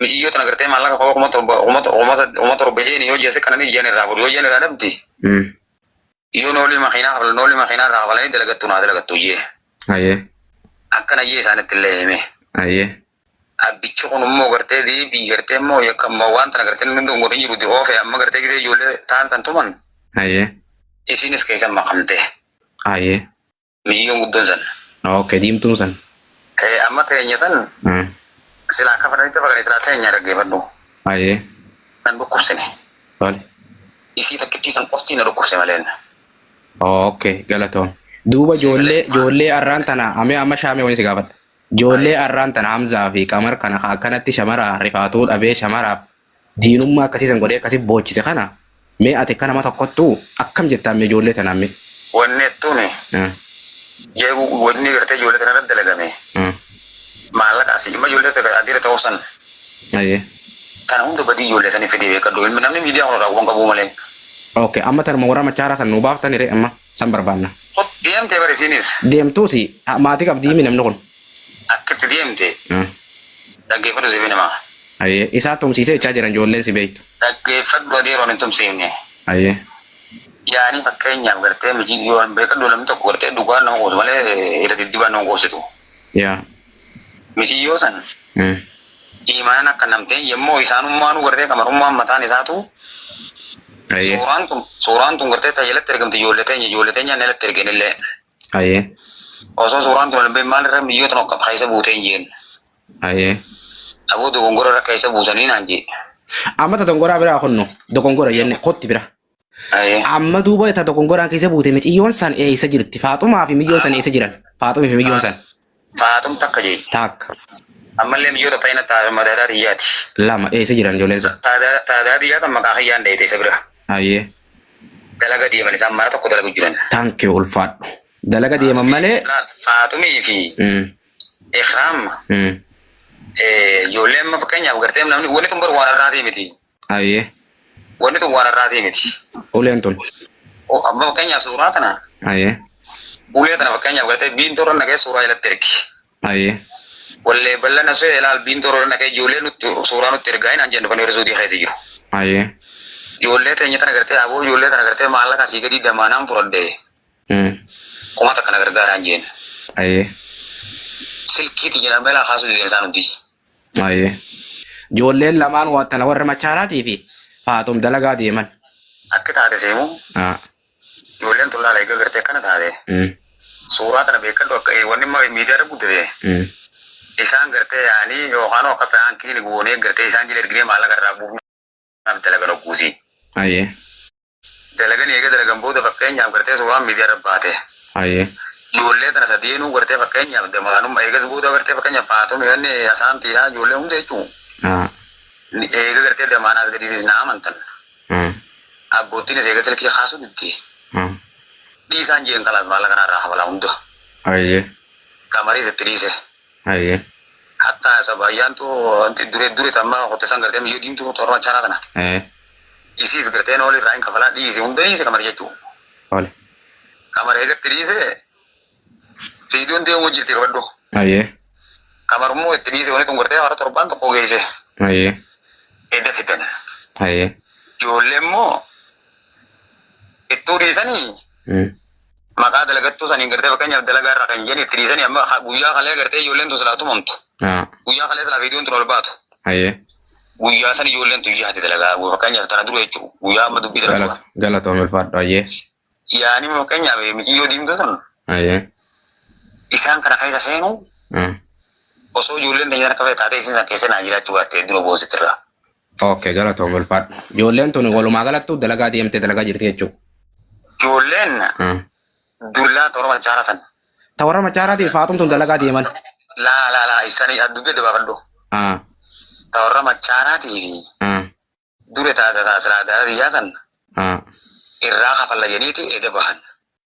Miciyyoo tana gartee maallaqa koo kuma torba kuma to- kuma sad- kuma torba jeeni yoo jeese kana ni jeen irraa godhu yoo jeen irraa dhabdi Mm. yoo noolii makiinaa kafala noolii makiinaa irraa kafalanii dalagattu naa dalagattu jee Ayee. akkana jee isaanitti illee hime Ayee. abbichi kun immoo gartee deebii gartee immoo yakka immoo waan tana gartee inni hunduu godhin jiru oofe amma gartee gisee ijoollee taan san tuman Ayee. isiinis keessan makamte Ayee. Miciyyoon guddoon san. Okay, diimtuun san. Eh, amma teenya san Eh, silaa kafananitti fakkaate silaa teenya dhaggeeffadhu. Ayee, Nan dhukkubsine. tole. Isii takkittii san qoftii na dhukkubse maleen. Okay, galatoom. Duuba ijoollee ijoollee arraan tana amee amma shaamee wani si gaafadha. Ijoollee arraan tana Hamzaa fi Qamar kana ka akkanatti shamara rifaatu dhabee shamaraaf Diinummaa akkasii san godhee akkasii boochise kana mee ati akka nama tokkottu akkam jettaan mee ijoollee tanaan mee? Wanni jettuuni Ah, jeebu wanni gartee ijoollee tana irratti dalagame ah, maallaqa asii dhimma ijoollee tana adiira ta'uu san ayyee. kana hunda badii ijoollee sanii fidee beekadhu ilmi namni miidiyaa kanarraa waan qabuu malee. Okay, amma tanuma warra machaaraa san nuu baaftani ree amma san barbaanna. Deemtee barisiinis. Deemtuusi ah, maatii qabdii himi namni kun. Akka itti deemte dhaggeeffadhu siifin hima. Ayyee. Isaa tumsiisee jechaa jiran ijoolleen si beektu. Dhaggeeffadhu adii yeroon hin tumsiifne. Ayyee. Yaanii fakkeenyaaf gartee mijii yoo hin beekadhu namni tokko gartee dhugaan nama qoobsu malee irra diddibaan nama qoobsitu. Yaa. Mijii yoo san iimaanan akka namteen yemmuu isaanummaanuu gartee kamarummaan mataan isaatu Ayyee. suuraan tun suuraan tun gartee tajaajilatti ergamte ijoollee teenya ijoollee teenyaan alatti ergeenillee. Hayyee. Osoo suuraan kun hin bahin maal irra biyyoota nokka keessa buutee hin jeen. Hayyee. Aboo dogongora irra keessa buusanii naan jee. Amma ta dogongoraa biraa kunno dogongora jenne kotti bira. Hayyee. Amma duuba ta dogongoraan keessa buute miciyyoon san eessa jirti? Faaxumaa fi miyyoon san eessa jiran? Faaxumii fi miyyoon san. Taatum takka jee. Taakka. Ammallee mijoota fayyina taaduma daadaa xiyyaati. Lama eessa jiran ijoolleen sun? Taadaa taadaa xiyyaa san maqaa kiyyaan dheeyte isa bira. Hayyee. Dalaga deeman isaan mana tokko dalagu jiran. Thank you ulfaadhu. Dalaga deeman malee. Laal Faaxumii fi Mm, Ikraam mm. eh, ijoolleen amma fakkeenyaaf gartee namni wanni tun baru waan irraatii miti. Hayyee. Wanni tun waan har'aatii miti. Uleen tun. O- Amma fakkeenyaaf suuraa tana Hayyee. ulee tana fakkeenyaaf gartee biintoo irra naqee suuraa jalatti ergi. Hayyee. Wallee bal'ana soo ilaal biintoo irra naqee ijoollee nutti suuraa nutti ergaa hin anjennu kan yeroo suudii keessa jiru. Hayyee. Ijoollee teenya tana gartee aboo ijoollee tana gartee maallaqa asii gadii damaanaan fudhadhee Mm. kuma takka na gargaaraan jeen. Hayyee. Silkiiti jedhamee laa kaasuu deemsaa nuti. Ayyee. Ijoolleen lamaan wa- tana warra machaalaatii fi faaxum dalagaa deeman. Akki taate seemu Ah, ijoolleen tun laala eegga gartee akkana taate. mm, Suuraa tana beekadhu akka eh, wanni ma- miidiyaa irra guddate. mm. Isaan gartee yaa'anii yookaan akka piraankiin goonee gartee isaan jila erginee maallaqa irraa buufne. Kanaaf dalagan hogguusii. Hayyee. Dalaganii eega dalagan booda fakkeenyaaf gartee suuraan miidiyaarra baate. Hayyee. Ijoollee tana sadeenuu gartee fakkeenyaaf damaanumma eegas booda gartee fakkeenyaaf faaxumii wanni asaantiidha ijoollee hunda jechuun. Haa. Eega gartee damaan as gadiitis na amantan. Haa. Abboottiinis eega silkii kaasuu didde. Haa. Dhiisaan jeen kalaas maallaqa kanarraa hafalaa hunda. Hayyee. Qamariis itti dhiise. Haye. Hatta sab ayyaantu wanti dure dure tamma hotte san gartee miyyoo diimtu torban shanaa tana. Ee. Isiis gartee nooli irraa hin kafalaa dhiise hunda dhiise kamar jechuu. Tole. Kamar eegatti dhiise fiidoon deemuu jirti qabadhu. Haye. Kamar immoo itti dhiise wanti tun gartee hara torban tokko geesse Haye. edda fidan. Haye. Ijoollee immoo ittuu dhiisanii Mm. maqaa dalagattuu saniin gartee fakkeenyaaf dalagaa irra kan jedhani itti dhiisanii amma ha- guyyaa kalee gartee ijoolleen tun silaa tumamtu Ah, guyyaa kalee silaa viidiyoon tun ol baatu Hayyee. guyyaa san ijoolleen tun yaati dalagaa guyyaa fakkeenyaaf tana dura jechuudha guyyaa amma dubbii dalagaa Galata- Galatoom ulfaadhu. Hayyee. yaani fakkeenyaaf miciyyoo diimtuu tun Hayyee. isaan kana keessa seenu Ah, osoo ijoolleen teenyaan akka fe'e taatee isin san keessa naa jiraachuu baatte hedduu boonsitti irraa Okay, galatoomi ulfaadhu. Ijoolleen tuni walumaa galattuu dalagaa deemtee dalagaa jirti jechuudha. Ijoolleen Hmm. dullaa toora machaara san. Ta warra machaaraatii faaxum tun dalagaa deeman. Laa laa laa isanii addubbii dabaafadhu. Ah, Ta warra machaaraatii fi ah, dure taata taasisaa gara biyyaa san ah. irraa kafalla jedhiiti eeda bahan.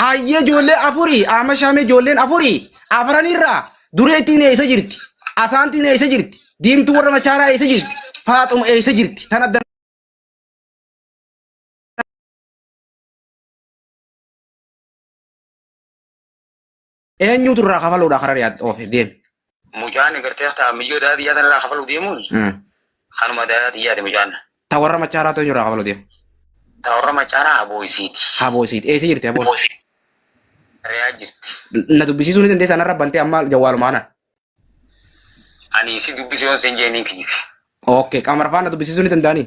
Hayyee ijoollee afurii amma shaamee ijoolleen afurii afran irraa dureettiin eessa jirti? Asaantiin eessa jirti? Diimtuu warra machaaraa eessa jirti? Faaxuma eessa jirti? Tan adda Eenyuutu irraa kafaluudha karaa yaad oofe deeme. Mucaan egartee taa miyyoo daadhii yaa sanarraa kafaluu deemuun kanuma daadhii yaade mucaan. Ta warra machaaraa ta'u irraa kafaluu deema. Ta warra machaaraa haboo isiiti. Haboo isiiti. Eessa jirti haboo? Reyaa jirti. Na dubbisiisuu ni dandeessaa narra bantee amma jawwaaluma kana. Ani si dubbisee on seen jee niin kijibe. Okay qaama rafaa na dubbisiisuu ni danda'anii?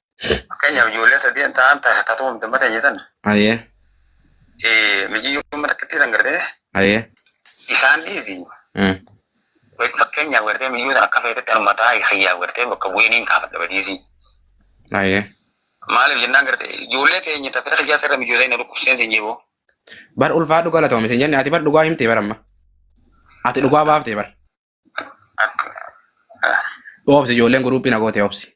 Fakkeenyaaf ijoollee sadeen ta'an ta- tatuu uumte mata hin jedhan. Ayee. Eh, Mijiyyoo amma takkittii san gartee Ayee. isaan dhiisi. Mm. Fakkeenyaaf gartee mijiyyoo san akka feetetti anuma taa'aa kiyyaaf gartee bakka bu'ee niin kaafadha badiisii. Ayee. Maaliif jennaan gartee ijoollee teenya tafee kiyyaa sarara mijiyyoo sana dhukkubseen sin jiboo. Bar ulfaa dhugaa latoome sin jenne ati bar dhugaa himtee bar amma. Ati dhugaa baaftee bar. Akka. Oobsi ijoolleen guruuppii na gootee oobsi.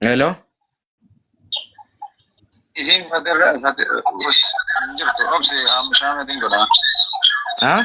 Hello? Isiin fatirra jirtu obsi shaamatiin godha. Haa?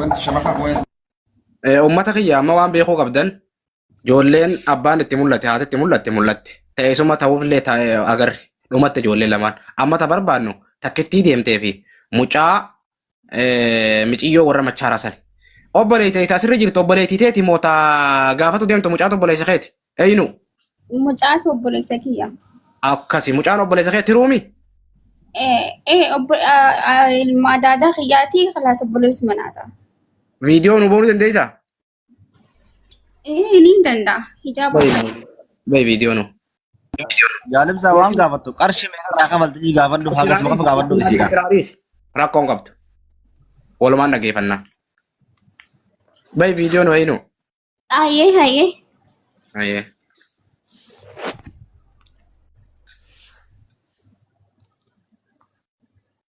Wanti shamarran moo'ee Eh, Uummata kiyya amma waan beekuu qabdan ijoolleen abbaan itti mul'ate haati itti mul'atte mul'atte ta'eessuma ta'uufillee taa'e agarre dhumatti ijoollee lamaan amma ta barbaannu takkittii deemtee fi mucaa Eh, miciyyoo warra machaaraa sani. Obboleeyte ita asirra jirtu obboleeytii teeti moo ta gaafatu deemtu mucaatu obboleessa keeti. Eeyinu Mucaatu obboleessa kiyya. akkasi mucaan obboleessa keeti ruumi. Eh, eh, obbo, ah, ah, ilma daadaa kiyyaati kilaasa obboleessuma naata. Viidiyoo nu boonu dandeessaa? Ee niin danda'a. Hijaaba Bayi uffadhe. maaloo. Bayi viidiyoo nuu. Jaalimsaa waan gaafattu qarshii meeqa irraa kafaltu ii gaafadhu hagas maqaf gaafadhu isiidha. Rakkoo hin qabdu. Walumaan dhageeffannaa. Bayi viidiyoo nuu eeyinuu. Hayyee hayyee. Ayyee.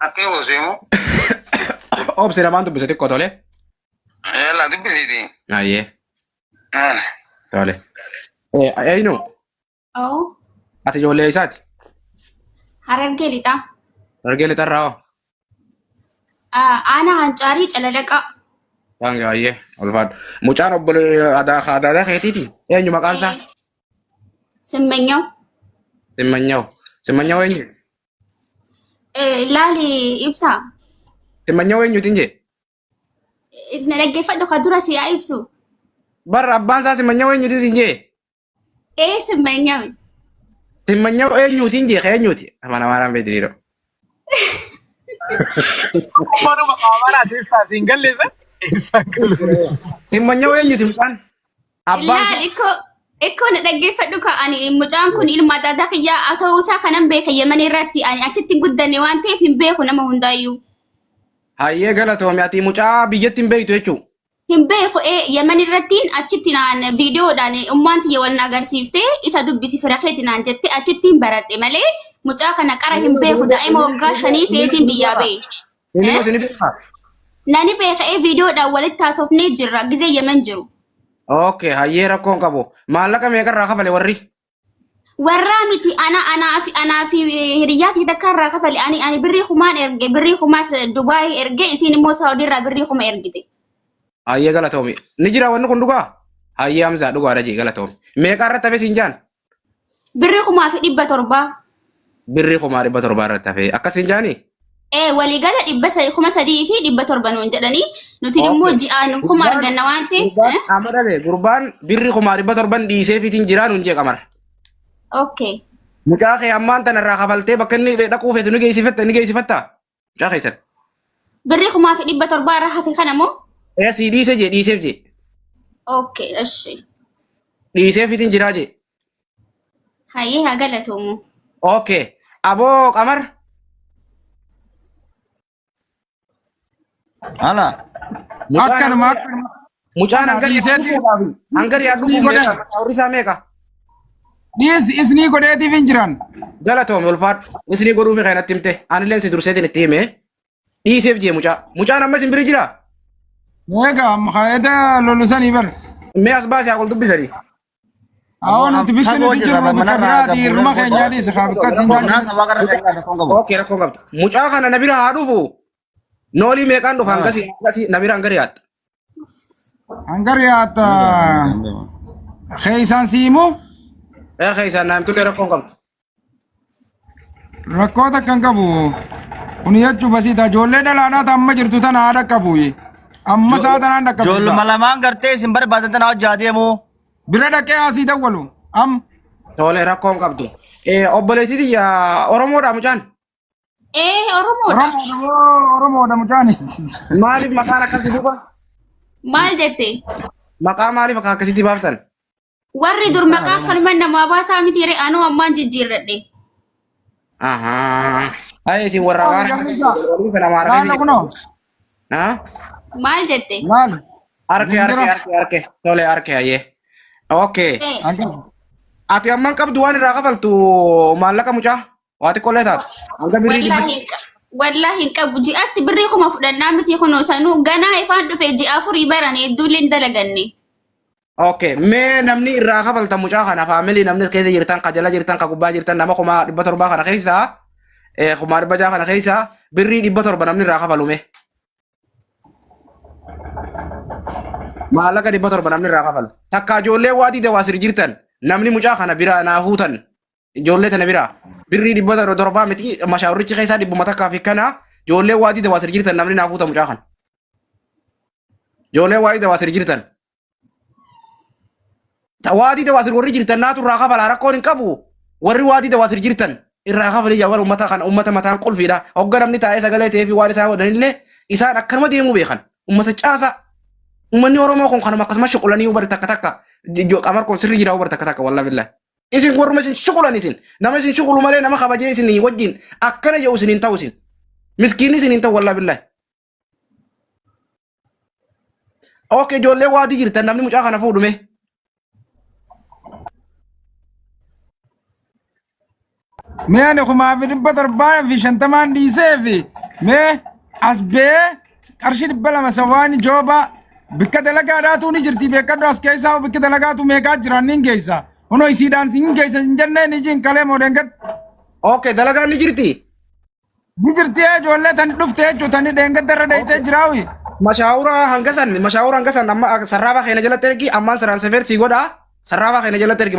Akka yoo seemu. Obsi lamaan dubbise xiqqoo tole. Yalla dubbisiiti. Ayyee Maal? tole. Eeyinu Oo, ati ijoollee isaati. harargee lixaa. Hargee lixarraa hoo? Aanaa Hancaarii Calalaqaa. Waan gaayyee ulfaadha. Mucaan obbolee aadaa aadaa keetiiti. Eenyu maqaan isaa? Simmanyaw. Simmanyaw. Simmanyaw eenyu? Laali ibsaa. Simmanyaw eenyuutiin jee? Na dhaggeeffadhu ka dura si haa ibsu. Barra abbaan isaa simmanyaw eenyuutiin siin jee? Ee simmanyawe. Simmanyaa eenyuuti hin jeeqa eenyuuti? Amana maaraan beektiidha. Manuma qaamanaa keessaa siin galleessa. Ibsaan galuu. Simmanyaa eenyuuti mucaan? Abbaan Laal isaa ikkoo ikkoo na dhaggeeffadhu ka ani mucaan kun ilma adda kiyyaa haa ta'uu isaa kanan beeka yeman irratti ani achitti hin guddanne waan ta'eef hin beeku nama hundaayyuu. hayyee galatoomi ati mucaa biyyatti hin beektu jechuudha. Hin beeku ee Yemen irrattiin achitti naan viidiyoodhaan ummaan tiyya wal na agarsiiftee isa dubbisi fira keeti naan jette achittiin baradhe malee mucaa kana qara hin beeku daa'ima waggaa shanii ta'eetiin biyyaa ba'e. Inni Eh? mati ni beekaa? Nani beeka ee viidiyoodhaan walitti haasofnee jirra gizee Yemen jiru. Okay, hayyee rakkoon qabu. Maallaqa meeqarraa kafale warri? warraa miti ana anaa fi anaa fi hiriyyaa tee takka irraa kafale ani ani birrii kumaan erge birrii kumaas Dubaayii erge isiin immoo Saawudii irraa birrii kuma ergite. Hayyee galatoomi. Ni jira wanni kun dhugaa? Hayyee Hamzaa dhugaadha jee galatoomi. Meeqaa irratti hafe siin jaan? Birrii kumaa fi dhibba torbaa. birrii kumaa dhibba torbaa irratti hafee akkasiin jaanii? Ee waliigala dhibba sa- kuma sadii fi dhibba torba nuun jedhanii nuti immoo Okay. ji'aan kuma Gurbaan- arganna waan ta'eef gurbaan eh? amma dhabe gurbaan birrii kumaa dhibba torban dhiisee fitiin jiraa nuun jee qamar. okay Mucaa kee ammaan tana irraa kafaltee bakka inni dhaquu feetu ni geessifetta ni geessifatta. Mucaa keessan. Birrii kumaa fi dhibba torbaa irra hafe kana moo? Ee sii dhiise jee dhiiseef jee. Okay, eshi. Dhiiseef itin jiraa jee. Hayyee haa galatoomu. Okay. Aboo qamar. Ala. Mucaan Akkanuma ammoo- akkanuma. Mucaan Kana hangarii dhiiseeti. dhufuudhaaf hangarii Ni dhufuuf godhe. meeqa? Warri isaa meeqa? Dhiis isnii godheetiif hin jiran. Galatoomi ulfaadhu. Isinii godhuufi kan natti himte. Anillee si durseetiin itti hime. Dhiiseef jee mucaa. Mucaan amma isin biri jira? Egaa maqaayeta lolusanii bar. Mee as baasee haa dubbisanii. Awoo nuti bitti Fagoo nuti jirra, jirru bakka manarraa biraati gabbuu hirma keenya dhiisa kaa bakka ittiin Qonnaan jaallu. sabaa gara keenyaa tokkoon qabu. Ookee rakkoon qabdu. Mucaa kana na bira haa dhufu. Noolii meeqaan dhufa hangasii hangasii na biraan gari yaatta. Hangar yaata keessaan siimu Ee keessaan naamtullee rakkoon qabdu. rakkoo takka hin qabu. Kun jechuu basiita ijoollee dhalaadhaa ta'an amma jirtu tana haadha qabu. Amma isaa tanaan dhaqqabu. Ijoolluma lamaan gartee isin barbaadan tana hojjaa deemu. Bira dhaqee asii dawwalu. Am Tole rakkoon qabdu. Ee obboleettii tiyya Oromoodhaa mucaan. Ee Oromoodha. Oromoodha Oromoodha mucaani. Maaliif maqaan akkasii duuba? Maal jette? Maqaa maaliif akka akkasitti baaftan? Warri dur maqaa akkanuma namaa baasaa miti ree anuu ammaan jijjiirradhe. Ahaa. Ayee isin warra waan waliin sana maara Laala kunoo. Haa? Maal jette? Laala. Arke arke arke arke tole arke ayee. Okay. Ee, Anjaa. Ati amman qabdu waan irraa kafaltu maallaqa mucaa? Waa xiqqollee taatu. Hanga birrii Wallaahi dubbisi. hin qa- wallaahi hin qabu ji'aatti birrii kuma fudhannaa miti kunoo sanuu ganaa ifaan dhufe ji'a afurii barane hedduullee hin dalaganne. Okay, mee namni irraa kafalta mucaa kana faamilii namni keessa jirtan, ka jala jirtan, ka gubbaa jirtan nama kuma dhibba torbaa kana keessa eh, kuma dhibba jaha kana keessa birrii dhibba torba namni irraa kafalu mee. Maallaqa dhibba torba namni irraa kafalu. Takka ijoollee waa diida waa siri jirtan namni mucaa kana biraa naa huutan ijoollee tana biraa birrii dhibba torba torbaa miti mashaawurichi keessaa dhibbuma takkaa fi kana ijoollee waa dida waa sir jirtan namni naa fuuta mucaa kan ijoollee waa dida waa sir jirtan Ta- waa dida waa sir warri jirtan naatu irraa kafalaa rakkoon hin qabu warri waa dida waa sir jirtan irraa kafalii jawwar ummata kan ummata mataan qulfiidha hogga namni taa'ee sagalee ta'ee fi waan isaa godhanillee isaan akkanuma deemuu beekan ummata caasaa ummanni oromoo kun kanuma akkasumas shuqulanii hubar takka takka jo- qamar kun sirri jira hubar takka takka wallaahi billahi Isin warruma isin shukulan isin. Nama isin shukulu malee nama kabajee isin wajjin akkana jedhu isin hin ta'u isin. Miskiinni isin hin ta'u wallaa billahi. Ok ijoollee waadii jirtan namni mucaa kana fuudhume. Mee ani kumaa fi dhibba torbaa fi shantamaan dhiisee fi mee as bee qarshii dhibba lama sawaani joobaa bikka dalagaadhaatu ni jirti beekadhu as keessaa bikka dalagaatu meeqaa jiran niin geessa hunoo isiidhaan hin geessa hin jennee ni jiin kalee moodeengat Okay, dalagaan ni jirti. ni jirti ee ijoollee tani dhufte jechuu tani dheengadda irra deeytee jiraawi Mashaawuraa hanga san, mashaawuraa hanga san amma sarraafaa keenya jalatti ergi, ammaan saraan safeer sii godha. Sarraafaa keenya jalatti ergi.